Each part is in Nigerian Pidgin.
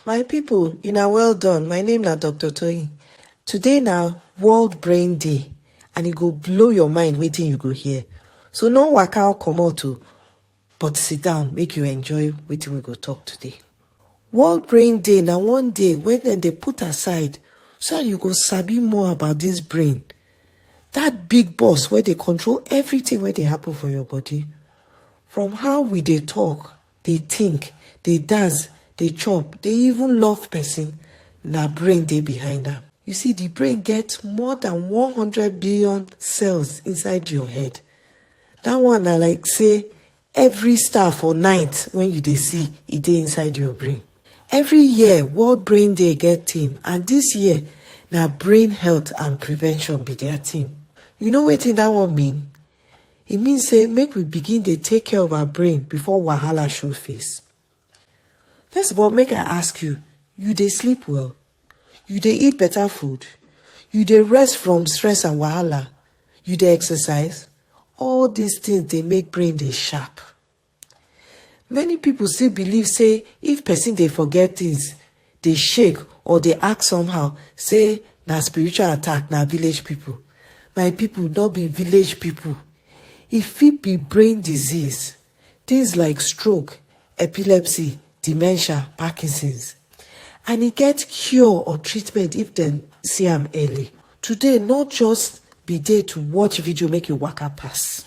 My people una well done, my name na Doctor Toyin. Today na World Brain Day and e go blow your mind wetin you go hear. So no waka or comot o but sit down make you enjoy wetin we go talk today. World Brain Day na one day wey dem dey put aside so that you go sabi more about this brain, that big boss wey dey control everything wey dey happen for your body from how we dey talk, dey think, dey dance, dey chop, dey even love person, na brain dey behind am. You see, the brain get more than one hundred billion cells inside your head. That one na like say every star for night when you dey see, e dey inside your brain. Every year, World Brain Day get theme and this year na brain health and prevention be their theme. You know wetin that one mean? e mean say make we begin dey take care of our brain before wahala show face first of all make i ask you you dey sleep well you dey eat better food you dey rest from stress and wahala you dey exercise all these things dey make brain dey sharp Many people still believe say if person dey forget things, dey shake or dey act somehow say na spiritual attack, na village people. My people no be village people. E fit be brain disease, things like stroke, epilepsy, dementia, Parkinson's and e get cure or treatment if dem see am early. Today no just be day to watch video make you waka pass.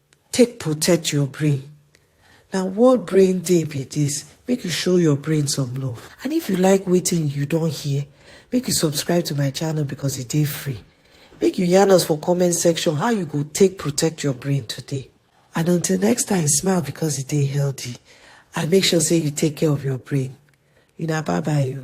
take protect your brain na world brain day be this make you show your brain some love and if you like wetin you don hear make you subscribe to my channel because e dey free make you yarn us for comment section how you go take protect your brain today and until next time smile because e dey healthy and make sure say you take care of your brain una bye bye o.